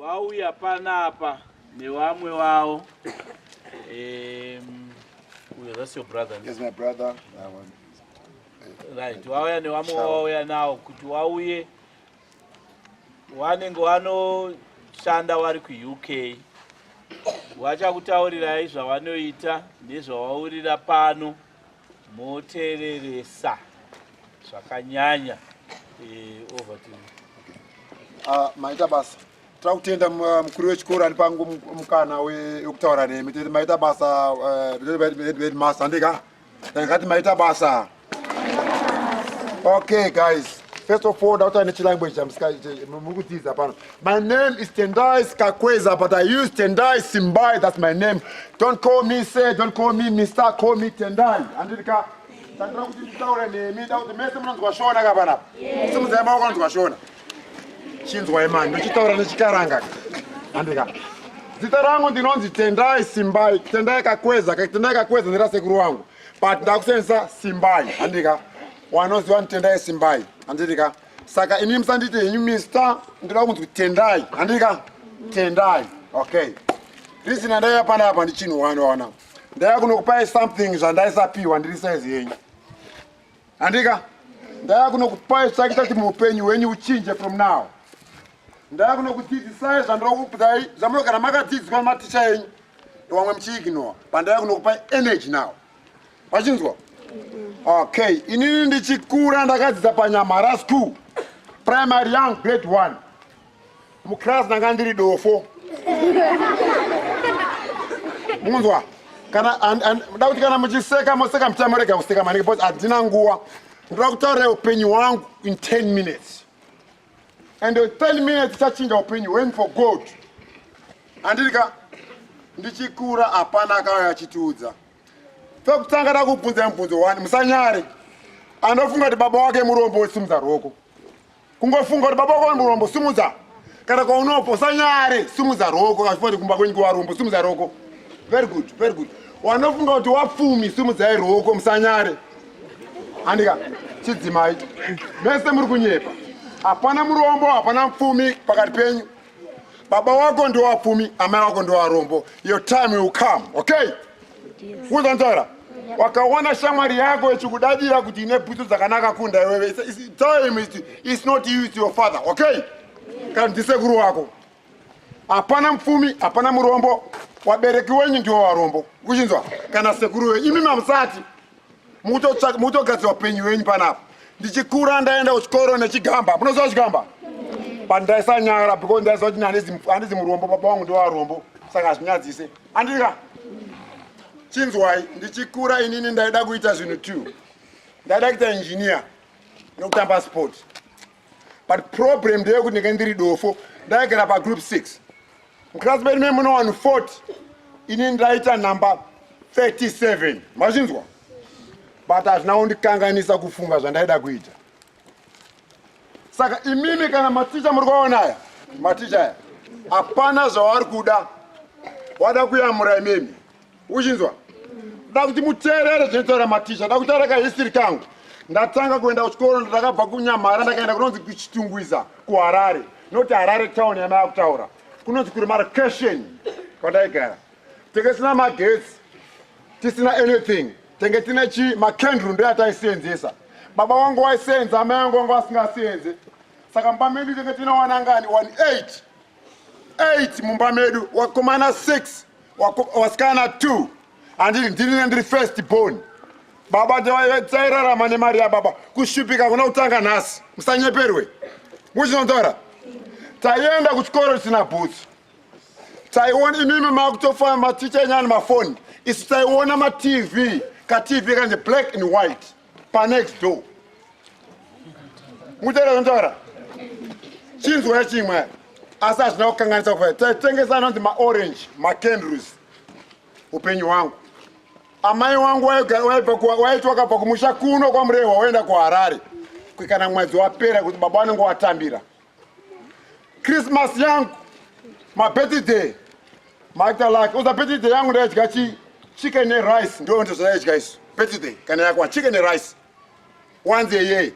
wauya panapa nevamwe wavo um, uyo that's your brother yes, my brother right wauya nevamwe wauya nawo kuti wauye wanenge wanoshanda wari kuuk wachakutaurirai zvawanoita nezvawaurira pano motereresa zvakanyanya eh, over to ah, maita basa tira kutenda ah, mukuru wechikoro ani pangu mukana wekutaura nemi tete maita basa headmaster eh, handika ndikati maita basa okay guys first of all ndakutaura nechilanguage muri kudzidza pano My name is Tendai Skakweza, but I use Tendai Simbai. That's my name. Don't call me sir, don't call me Mr. Call me Tendai. Andika. Tandira kuti nditaure nemi, da kuti mese munonzwa shona ka panapa. Simudzai maoko anonzwa shona. Chinzwai mani, ndochitaura nechikaranga. Andika. Zita rangu ndinonzi Tendai Simbai, Tendai Kakweza, Tendai Kakweza ndira sekuru wangu. But ndakusenzesa Simbai. Andika. Wanoziwa Tendai Simbai. Andika. saka imi musanditi henyu mister ndinoda kunzi tendai handika tendai okay reason andaiya pana apa ndichinhu wani waona ndaiya kunokupai something zvandaisapiwa ndiri size yenyu handika ndaiya kunokupai chake chati muupenyu hwenyu uchinje from now ndaiya kunokudzidzisai zvandira kukupai zvamunogara makadzidziswa nematicha enyu ndovamwe muchiignore pandaiya kunokupai energy now vachinzwa okay inini ndichikura ndakadzidza panyamhara school primary young grade one muclass ndanga ndiri dofo munzwa kana nda kuti kana muchiseka moseka muchamurega kuseka maningi bcause handina nguva ndoda kutaurira upenyu hwangu in 10 minutes and 10 minutes chachinja upenyu when for god andiri ka ndichikura hapana akauya achitiudza pekutanga da kubvunza mubvunzo wani musanyare anofunga kuti baba wake murombo wesimudza roko kungofunga kuti baba wake murombo simudza kana kwaunopo usanyare simudza roko achifanti kumba kwenyu kuvarombo simudza roko very good very good wanofunga kuti wapfumi simudzai roko musanyare Andika chidzimai mese muri kunyepa. Hapana murombo, hapana mfumi pakati penyu. Baba wako ndiwo wapfumi, amai wako ndiwo warombo. Your time will come, okay? Who's Tara? wakaona shamwari yako ichikudadira kuti ine bhutsu dzakanaka kunda iwewe time it's not you it's your father okay kana ndisekuru wako hapana mupfumi hapana murombo wabereki wenyu ndiwo varombo kuchinzwa kana sekuru wenyu imi mamusati mukutogadzira upenyu wenyu panapa ndichikura ndaenda kuchikoro nechigamba munoziva chigamba but ndaisanyara because ndaiziva kuti handizi murombo baba wangu ndiwo varombo saka hazvinyadzise andika chinzwai ndichikura inini ndaida kuita zvinhu two ndaida kuita engineer nokutamba sport but problem ndeyekuti ndinge ndiri dofo ndaigara pagroup 6 muclass medu mei mune vanhu 40 ini ndaita number 37 mazvinzwa but hazvina kundikanganisa kufunga zvandaida kuita saka imimi kana maticha muri kuvaona aya maticha aya hapana zvavari kuda wada kuyamura imimi uchinzwa da kuti muteerere zvinotaura maticha da kutaura kahistory kangu ndatanga kuenda kuchikoro ndakabva kunyamhara ndakaenda kunonzi kuchitungwiza kuharare noti harare town yamaya kutaura kunonzi kuri marcation kwandaigara tenge tisina magetsi tisina anything tenge tine chi macandle ndo yataisenzesa baba wangu waisenza amai wangu wangu asingasienze saka mubamedi tenge tine wanangani 18 8 mumba medu wakomana 6 wasikana 2 handii ndinine ndiri first born baba tsairarama nemari yababa kushupika kuna kutanga nhasi musanyeperwe muchinonzora taienda kuchikoro tisina bhutsu taiona imimi makutofana maticha enyani mafoni isu taiona matv katv kanje black and white panext door mutera zvantaura chinzwa chimwe asi hazvina kukanganisa kufa taitengesa anonzi maorange macandles upenyu hwangu amai wangu waiti wakabva kumusha kuno kwamurehwa waenda kuharare kuikana mwedzi wapera kuti baba wanenge watambira Christmas yangu, my birthday, my talak. Oza birthday yangu nda yadya chi chicken and rice. Ndo ndo zva yadya isu. Birthday kana yakwa chicken and rice. Once a year.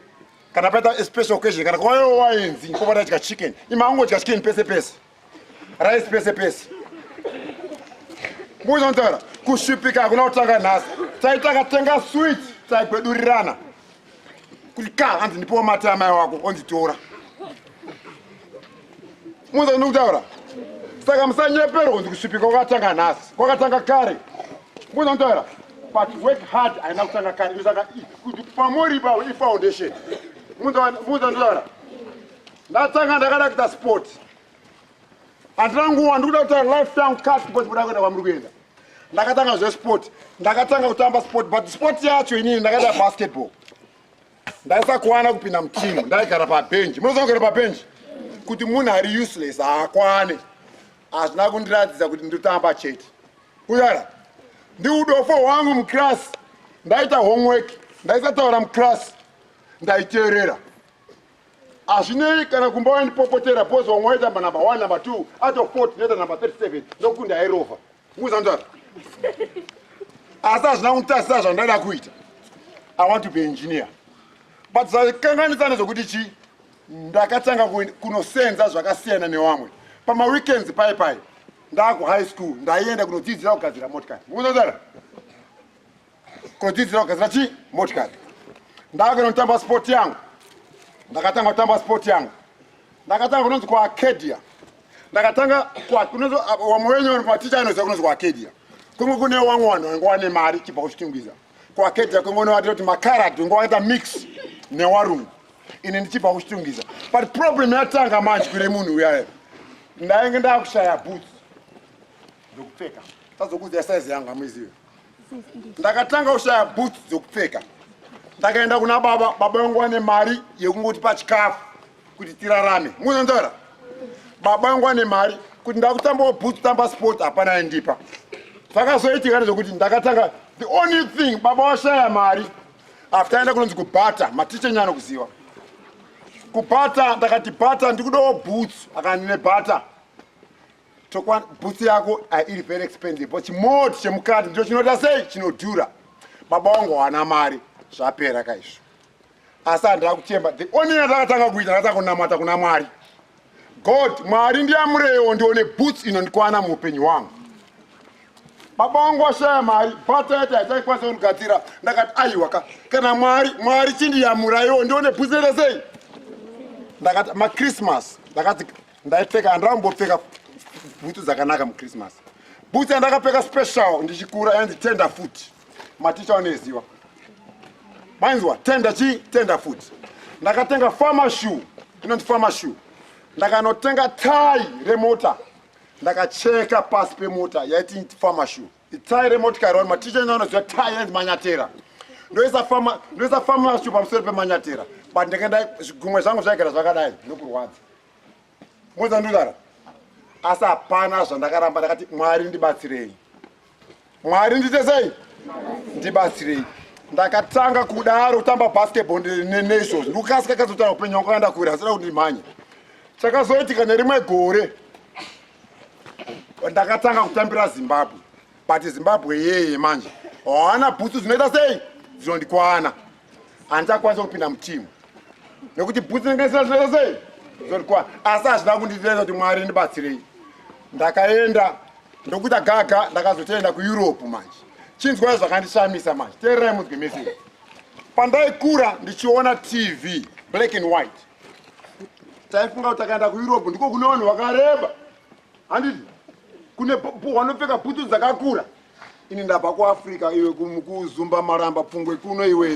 Kana pata special occasion kana kwa yo wainzi ko pata yadya chicken. Ima ango yadya chicken pese pese. rice pese pese muzonzora kushupika hakuna kutanga nhasi taitakatenga swit taigwedurirana kuti ka hanzi ndipowo mati amai wako onzitora muza ndikutaura saka musanyepero kunzi kusvipika kwakatanga nhasi kwakatanga kare muza ndikutaura but work hard haina kutanga kare saka kuti pamoriba ifoundation muza ndikutaura Ndatanga ndakada kuita sport. Andina nguva ndikuda kuita life time cut because kuda kuenda kwamuri kuenda. Ndakatanga zve sport. Ndakatanga kutamba sport but sport yacho inini ndakaita basketball. Ndaisakwana kupinda mutimu, ndaigara pa bench. Munoziva kugara pa bench? Kuti munhu ari useless haakwane. Hazvina kundiratidza kuti ndotamba chete. Kuyara. Ndiudofo hwangu muclass. Ndaita homework. Ndaisataura muclass. Ndaiteerera. hazvinei kana kumba waindipopotera bhozi wamwe waitamba number one number two out of fort ndinoita number 37 ndokukunda yairova muzandara asi hazvina kunditasisa zvandaida kuita i want to be engineer but zvakanganisa nezvokuti chii ndakatanga kunosenza zvakasiyana nevamwe pamaweekends pai pai ndaakuhigh school ndaienda kunodzidzira kugadzira motikari muzandara Kodzidzira kugadzira chii? Motikari. Ndakagona kutamba sport yangu. Ndakatanga kutamba sport yangu. Ndakatanga kunonzi kuArcadia. Ndakatanga kunonzi wamwe wenyu vanhu maticha anoziva kunonzi kuArcadia. Kunge kune wamwe vanhu vange wane mari chibva kuchitungwiza. KuArcadia kunge unovatira kuti makarad unge wakaita mix newarungu. Ini ndichibva kuchitungwiza. But problem yatanga manje kune munhu uyaye. Ndainge ndakushaya boots. Ndokupfeka. Tazokuudza size yangu amuizive. ndakatanga kushaya boots dzokupfeka ndakaenda kuna baba baba vangu vane mari yekungoti pachikafu kuti tirarame muzonzora baba vangu vane mari kuti ndakutambawo boots tamba sport hapana aindipa zvakazoitika nezvekuti ndakatanga the only thing baba washaya mari after aenda kunonzi kubhata maticha nyano kuziva kubhata ndakati bhata ndikudawo boots akandine bhata Tokwana boots yako ah, iri very expensive but chimoti chemukati ndicho chinoita sei chinodhura. Baba wangu hawana mari zvapera kaizvo. Asi handina kuchemba the only yatakatanga kuita ndakatanga kunamata kuna Mwari. God Mwari ndiyamurewo ndione boots inondikwana muupenyu wangu. Baba wangu washaya mari bata yati hataikwanisa kundigadzira ndakati aiwa ka kana Mwari Mwari chindiyamuraiwo ndione boots inoita sei. Ndakati machristmas ndakati ndaipfeka handambopfeka bhutsu dzakanaka muchristmas bhutsu yandakapfeka special ndichikura yanzi tender foot maticha waneziwa mainzwa tender chi tender foot ndakatenga farmer shoe inonzi farmer shoe ndakanotenga tai remota ndakacheka pasi pemota yaiti farmer shoe Itayi remotikari wani maticha ina unoziva tayi and manyatera ndoisa fama ndoisa fama shu pamusoro pemanyatera but ndakadai zvigumwe zvangu zvaigara zvakadai zvinekurwadza moza ndudara asi hapana zvandakaramba ndakati mwari ndibatsirei mwari ndite sei ndibatsirei ndakatanga kudaro kutamba basketball neizvozvo ndikukasika kazotanga upenyu wangu kanda kure hasina kuti ndimhanye chakazoitika nerimwe gore ndakatanga kutambira zimbabwe but zimbabwe yeye manje haana bhutsu dzinoita sei dzinondikwana handichakwanisa kupinda mutimu nekuti bhutsu ndingaisira zvinoita sei dzinondikwana asi hazvina kunditiresa kuti mwari ndibatsirei ndakaenda ndokuita gaga ndakazotoenda kueurope manje chinzwai zvakandishamisa manje teererai munzwe mese pandaikura ndichiona tv black and white taifunga kuti takaenda kueurope ndiko kune vanhu vakareba handiti kune wanopfeka bhutsu dzakakura ini ndabva kuafrica iwe kuzumba maramba pfungwe kuno iwe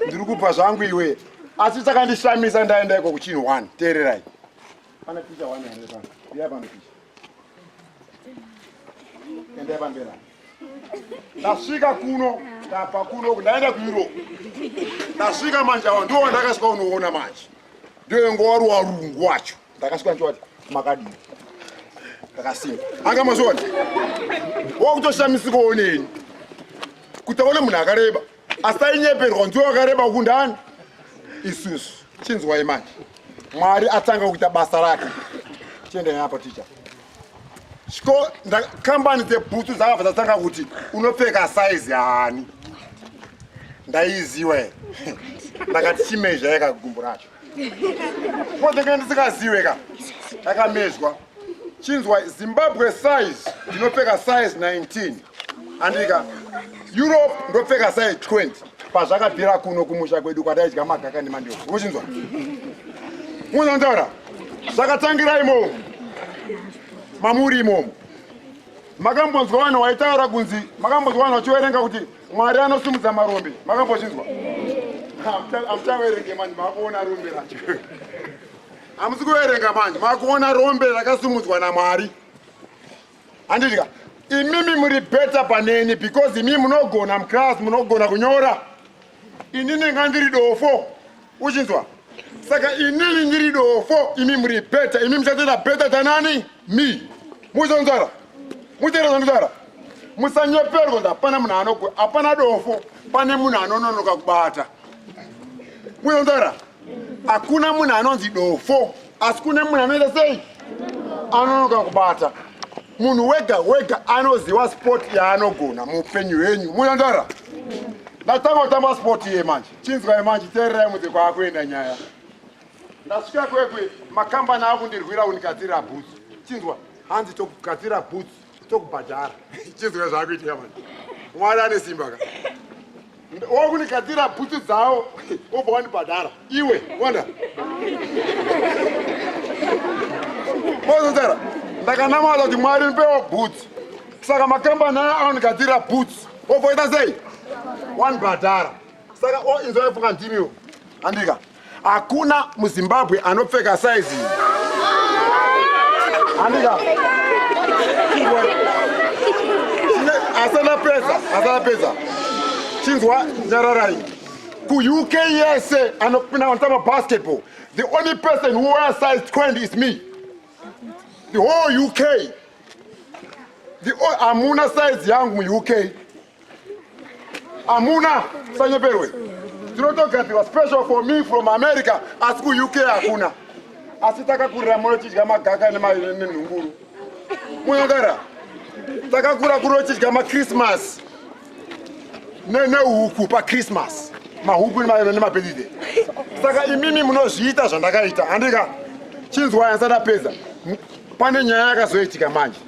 ndiri kubva zvangu iwe asi chakandishamisa ndaenda iko kuchinhu one teererai pane picha one here pano iya pano picha endai pambera ndasvika kuno ndabva kuno ndaenda kueurope ndasvika manje awa ndiwo wandakasvika unoona manje ndiyo ingo wari warungu wacho ndakasvika ndichowati makadii ndakasimba anga mazviona wakutoshamisikawo neni kuti aone munhu akareba asi tainyeperwa nziwo wakareba uku ndani isusu chinzwai manje mwari atanga kuita basa rake tiendai apo ticha chiko kambani dzebhutsu dzakabva dzatanga kuti unopfeka saizi hani ndaiziwa here ndakati chimezha yeka gumbu racho kodenge ndisikaziwe ka akamezwa chinzwa zimbabwe size ndinopfeka size 19 andika europe ndopfeka sai 20 pazvakabvira kuno kumusha kwedu kwataidya magaka nemandio uchinzwa unontaura zvakatangira imomo mamuri imomo makambonzwa vanhu waitaura kunzi makambonzwa vanhu vachiverenga kuti mwari anosumudza marombe makambochinzwa amuchaverenge manje maakuona rombe racho hamusi kuverenga manje maakuona rombe rakasumudzwa namwari Andidya. Imimi muri better paneni because imimi munogona mclass munogona kunyora. Inini ngandiri dofo. Uchinzwa? Saka inini ndiri dofo, imimi muri better. Imimi muchatoita better tanani? Me. Muzonzara. Muzonzara. Muzonzara. musanyeperwa kuti hapana munhu anogona hapana dofo pane munhu anononoka kubata munotora Hakuna munhu anonzi dofo asi kune munhu anoita sei anonoka kubata munhu wega wega anoziva sport yaanogona muupenyu hwenyu munandara ndatanga kutamba sport iye manje chinzwai manje teererai mudze kwaakuenda nyaya ndasvika kwekwe makambani akundirwira kundikadzira bhutsu chinzwa hanzi tokugadzira bhutsu tokubhadhara chizwa zvaakuitika mani mwari ane simba ka wakunigadzira bhutsu dzawo obva wandibhadhara iwe wanda mozozera ndakanamata kuti mwari ndipewo bhutsu saka makambani aya anonigadzirira bhutsu obvoita sei wandibhadhara saka inzwa ifunga ndimiwo andika Hakuna muZimbabwe anopfeka size iyi. Andika. Asana pesa, asana pesa. Chinzwa nyararai. Ku UK yese anopinda anotamba basketball. The only person who wears size 20 is me. The whole UK. The whole, amuna size yangu mu UK. Amuna sanyeperwe tinotogadzirwa special for me from america asi kuuk hakuna asi takakurira moyo chidya magaka nenhunguru muyangara takakura kuri ochidya machristmas nehuku pachristmas mahuku nemabedide saka imimi munozviita zvandakaita handika chinzwaya sadapedza pane nyaya yakazoitika manje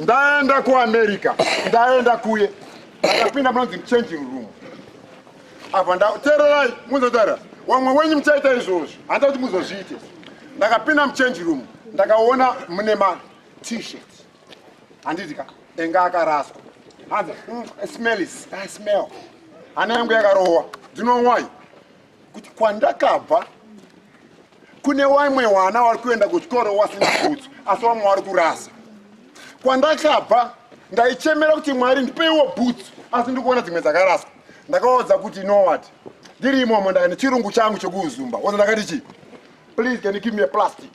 ndaenda kuamerica ndaenda kuye ndakapinda munonzi changing room apa ndatererai muzotaura wamwe wenyu muchaita izvozvo handa kuti muzozviite ndakapinda muchange room ndakaona mune matshirt handiti ka enga akaraswa hanzi mm, smells i smell hana yangu yakarohwa dzinowai kuti kwandakabva kune wamwe wana wari kuenda kuchikoro wasina bhutsu asi wamwe wari kurasa kwandakabva ndaichemera kuti mwari ndipeiwo bhutsu asi ndiri kuona dzimwe dzakaraswa ndakaodza kuti nowat ndiri imomo ndaka nechirungu changu chekuuzumba oza ndakati chii please can you give me a plastic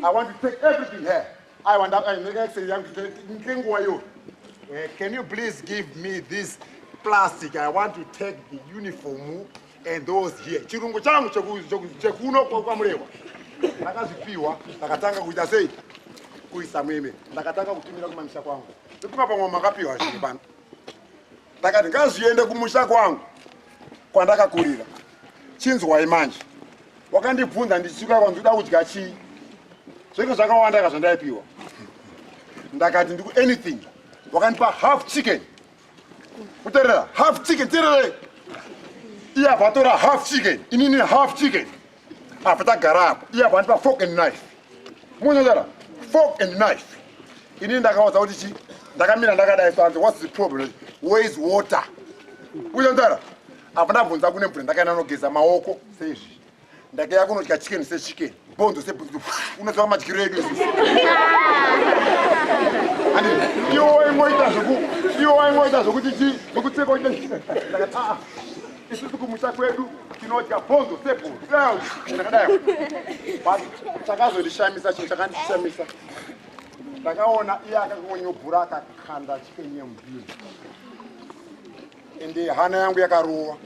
i want to take everything here aiwa ndakaexei yangu ngenguva yo eh, can you please give me this plastic i want to take the uniform And those here chirungu changu chekuno kwamurewa ndakazvipiwa ndakatanga kuita sei kuisa meme ndakatanga kutumira kumamisha kwangu ndipima pamwe makapiwa zvinhu pano ndakati ngazviende kumusha kwangu kwandakakurira chinzwai manje wakandibvunza ndichisuka kwanzi uda kudya chii zvenge zvakawandaka zvandaipiwa ndakati ndiku anything wakandipa half chicken kuterera half chicken terere iya vatora half chicken inini half chicken apa tagara apo iya vandipa fork and knife munozara fork and knife inini ndakaudza kuti chi ndakamira ndakadai sanzi whats the problem where is water uyanzara apa ndabvunza kune mvura ndakaenda nogeza maoko seizvi ndakaya kunodya chicken sechicken bhonzo sebhonzo unoziva madyiro edu izvi and iwo waingoita zvoku iwo waingoita zvokuti chi zvokuteka uite ndakati aa isusu kumusha kwedu tinodya bhonzo sebhonzo ndakadai but chakazondishamisa chinhu chakandishamisa ndakaona iye akangonyobhura akakanda chiken yemubhiri ende hana yangu yakarowa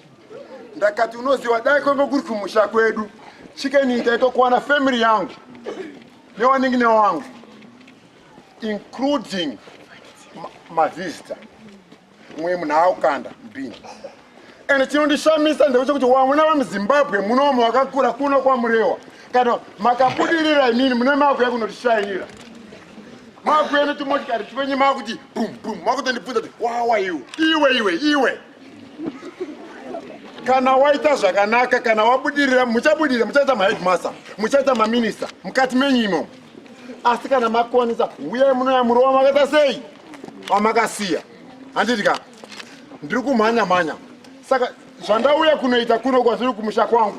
ndakati unoziva dai kwenge kuri kumusha kwedu chicken ita itokuwana family yangu newanenge newangu including mavisitor mwe munhu aukanda mbini and chinondishamisa ndechekuti wamwena vamuzimbabwe munomo wakakura kuno kwamurewa kana makabudirira inini mune makuya kunotishairira makuya netumotikari twenye makuti bum bum makutondibvunza kuti wawa iwe iwe iwe iwe kana waita zvakanaka kana wabudirira muchabudirira muchaita maheadmaster muchaita maminista mukati menyu imomo asi kana makwanisa uyai munoya murova makaita sei wamakasiya handiti ka ndiri kumhanya mhanya saka zvandauya kunoita kuno kwazviri kumusha kwangu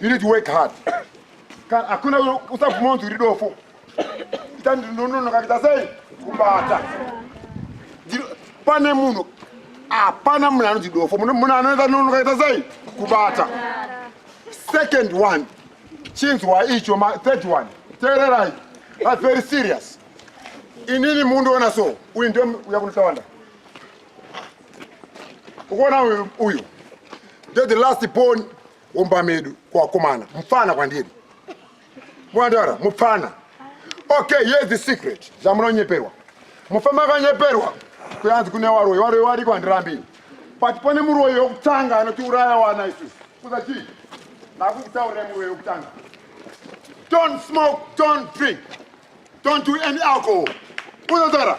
You need to work hard. Kana hakuna usabvuma kunzi uri dofo. Ita ndinononoka kuita sei? Kubata. Pane munhu hapana munhu anonzi dofo. Munhu anoita nonoka kuita sei? Kubata. Second one. Chinzwa icho ma third one. Teererai. But very serious. Inini mundiona so. Uyu ndiye uya kunotawanda. ukuona uyu uyu ndo the last born womba medu kwakomana mupfana kwandiri mwandara mupfana okay here is the secret zvamunonyeperwa mufama akanyeperwa kuyanzi kune waroyi waroyi wariko handirambini but pane muroyi wekutanga anotiuraya wana isusu kuza chii nakukutaurira muroyi wekutanga don't smoke don't drink Don't do any alcohol. Unodara.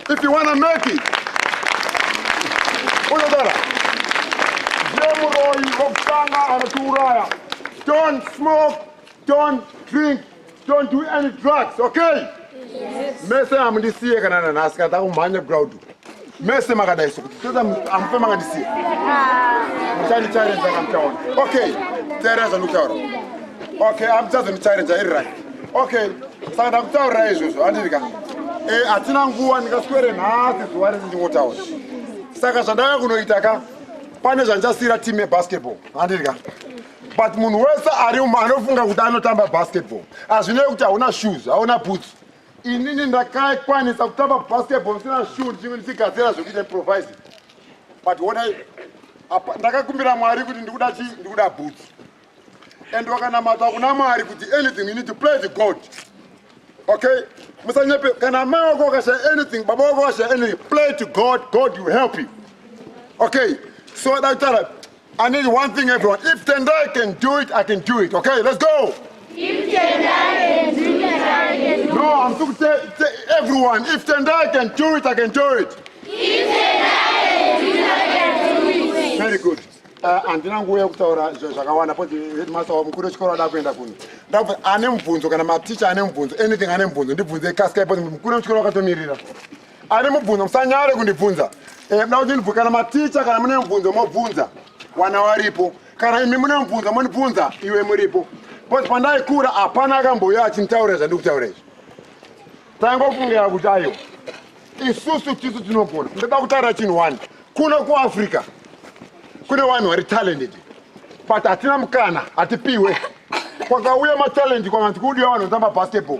If you want to make it. Unodara. Jemuroi Roksanga Anaturaya. Don't smoke. Don't drink. Don't do any drugs, okay? Yes. Mese amundisiye kana nanhasi kana takumhanya ground. mese makadai sokuti toda amufe makandisiya muchandichareza kamutaona okay teera zvandikutaura okay amuchazondichareza iri right okay saka ndakutaurira izvozvo andiri ka e hatina nguva ndingaswere nhasi zuva rese ndingotaura saka zvandava kunoita ka pane zvandichasiyira team yebasketball andiri ka but munhu wese ari umo anofunga kuti anotamba basketball hazvinei kuti hauna shoes hauna boots inini ndakakwanisa kutamba basketball ndisina shuu ndichinge ndichigadzira zvekuita improvise but wonai ndakakumbira mwari kuti ndikuda chii ndikuda boots and wakanamata kuna mwari kuti anything you need to play the god okay musanyepe kana amai wako wakashaya anything baba wako wakashaya anything play to god god will help you okay so dakutara I need one thing, everyone. If Tendai can do it, I can do it. Okay, let's go. If Tendai can do it, I can do it. No, I'm talking to everyone. If Tendai can do it, I can do it. If Tendai can do it, I can do it. Very good. Uh, handina nguva yekutaura zvakawanda poti headmaster wamukuru wechikoro ada kuenda kuno ndakuti ane mubvunzo kana maticha ane mubvunzo anything ane mubvunzo ndibvunze kasika poti mukuru wechikoro wakatomirira Ane mubvunzo musanyare kundibvunza. Eh mna kuti ndibvunza kana maticha kana mune mubvunzo mobvunza wana waripo. Kana imi mune mubvunzo monibvunza iwe muripo. But pandaikura hapana akambouya achinitaurira zvandikutaura izvi. Tangofungira kuti ayo isusu tisu tinogona. Ndoda kutaura chinhu one. Kuno kuAfrica kune vanhu vari talented but hatina mukana hatipiwe kwakauya matalent kwamati kudiwa vanhu vanotamba basketball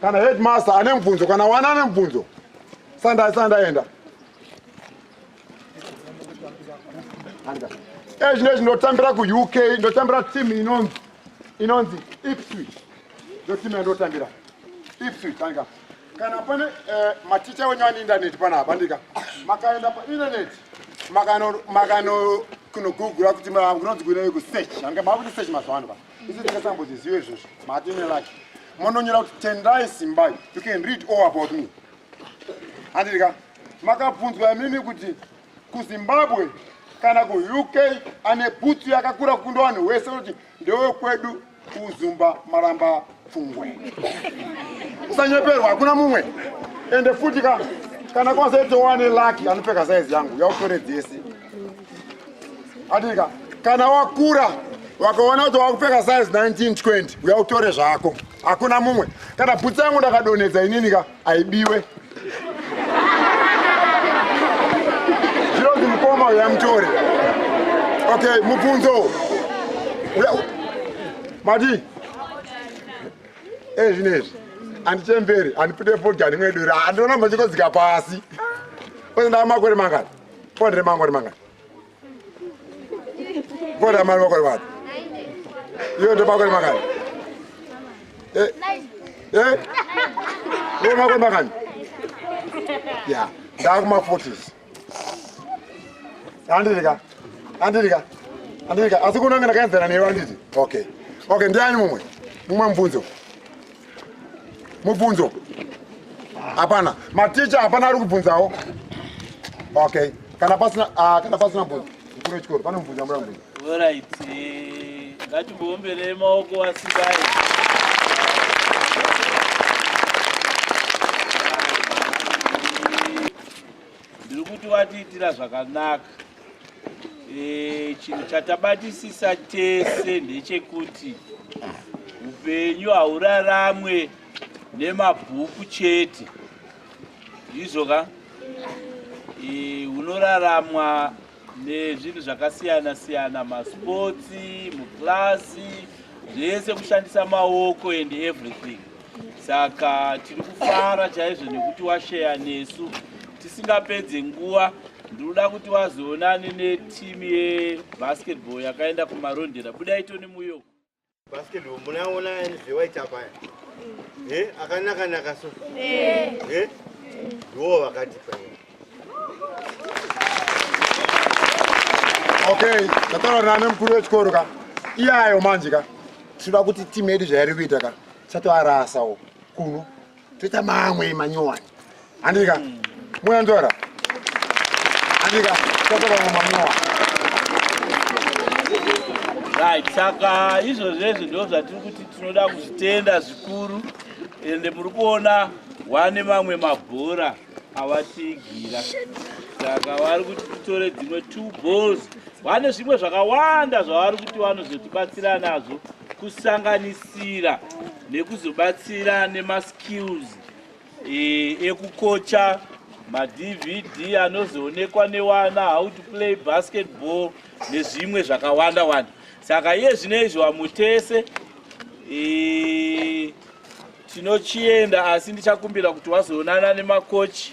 kana headmaster ane mubvunzo kana wana ane mubvunzo sandai sandaenda ezvi nezvi ndotambira kuuk ndotambira team inonzi inonzi ipswich ndo team yandotambira ipswich andika kana pane eh, maticha wenyu ane indaneti panapa andika makaenda paindaneti makano kunogugura kuti kunonzi kuinei kusearch andika maakuti search mazuva ano pa Isu tingasambozviziva izvozvo mati nelaki mononyora kuti tendai simbai you can read all about me handiti ka makabvunzwa imimi kuti kuzimbabwe kana kuuk ane bhutsu yakakura kukunda vanhu wese kuti ndewekwedu kuzumba maramba pfungwe usanyeperwa hakuna mumwe ende futi ka kana kwazoitowane laki anopfeka saizi yangu yautore dzese adika kana wakura wakaona kuti wakupfeka size 1920 uya utore zvako hakuna mumwe kana bhutsi yangu ndakadonhedza inini ka haibiwe zvinonzi mukoma uya mutore okay mubvunzo mati ezvinezvi eh, handichemberi handipute fodya ndimwe dura handionambo chikodzika pasi oenda makore mangani Pondre mangori manga. Pondre amari makori manga. Iyo ndo makori manga. Eh. Eh. Iyo makori manga. Yeah. Dark ma 40s. Andika. Andika. Andika. Asi kunanga ndakaenzana newe anditi. Okay. Okay, ndiani mumwe? Mumwe mvunzo. mubvunzo hapana maticha hapana ari kubvunzawo okay kana pasina uh, kana pasina bvunzo mukuru wechikoro pane mubvunzo amura mubvunzo orit eh, ngatimboomberei maoko asikai ndiri kuti watiitira zvakanaka Eh, chinhu chatabatisisa tese ndechekuti upenyu hauraramwe nemabhuku chete ndizvo ka eh, unoraramwa nezvinhu zvakasiyana siyana masports muclasi zvese kushandisa maoko and everything saka tiri kufara chaizvo nekuti washeya nesu tisingapedze nguva ndinoda kuti wazoonane netimu yebasketball yakaenda kumarondera budai toni muyoko basketball munaona zvewaita paya eh, akanaka naka so eh, eh? ndiwo vakati paya Okay, tataura nane mukuru wechikoro ka. Iyayo manje ka. Tinoda kuti team yedu zvairi kuita ka. Satoarasawo kuno. Toita mamwe manyowani. Andika. Mm. Moya ndora. Andika. Tataura mamwe manyowani. Right, saka izvozvezvo ndo zvatiri kuti tinoda kuzvitenda zvikuru ende muri kuona wane mamwe mabhora awatigira saka vari kuti titore dzimwe two balls vane zvimwe zvakawanda zvavari kuti vanozotibatsira nazvo kusanganisira nekuzobatsira nemaskills e, ekukocha madvd anozoonekwa newana how to play basketball nezvimwe zvakawanda wanda saka iye zvino izvi wamutese e, Tinochienda asi ndichakumbira kuti wazoonana nemakochi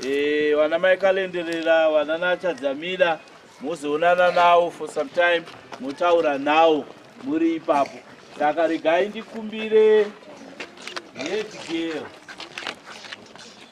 e, vana mai Kalenderera, vana Nachadzamira, mozoonana nawo for some time, motaura nawo muri ipapo. Saka regai ndikumbire head girl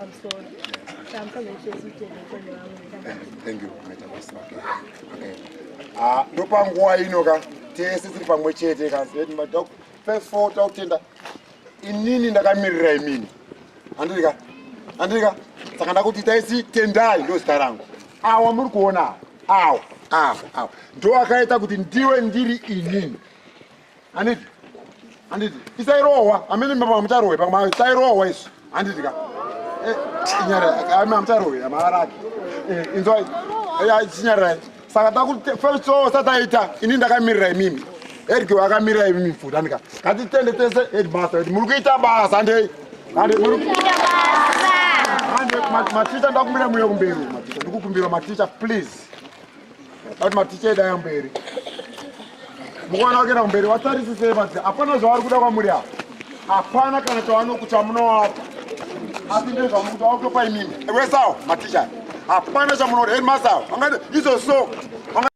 I'm sorry. I'm coming to see you. Thank you. Okay. Ah, ndopanguwa ino ka tese tiri pamwe chete ka zedi madok first of all takutenda inini ndakamirira imini handiri ka handiri ka saka ndakuti taisi tendai ndo zita rangu awa muri kuona awa awa awa ndo akaita kuti ndiwe ndiri inini Anditi. Anditi. Isairohwa. Amene mama mutarohwe pamwe isairohwa isu. Anditi ka. Eh, nyara. Amene mutarohwe amaraki. Eh, inzwai. Ya eh, chinyara. Saka takuti first show sataita ini ndakamirira imimi. Eric wakamirira imimi futa nika. Kati tende tese headmaster. Muri kuita basa ndei. Ande muri kuita basa. Ande maticha ndakumbira muyo kumberi. Maticha ndikukumbira maticha please. But maticha edu aya mberi. Mukaona wakenda mberi watarisise manje hapana zvavari kuda kwamuri apa. Hapana kana chawanoku chamunowapa. Asi ndezvamukuda wakutopa imimi. Ewe sawa maticha. Hapana chamunoda headmaster. Angati izo so.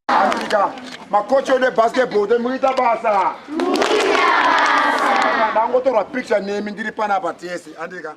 Afrika makochi ode basketball de muita basa. Muita basa. Ndangotorwa picture nemi ndiri panapa tese andika.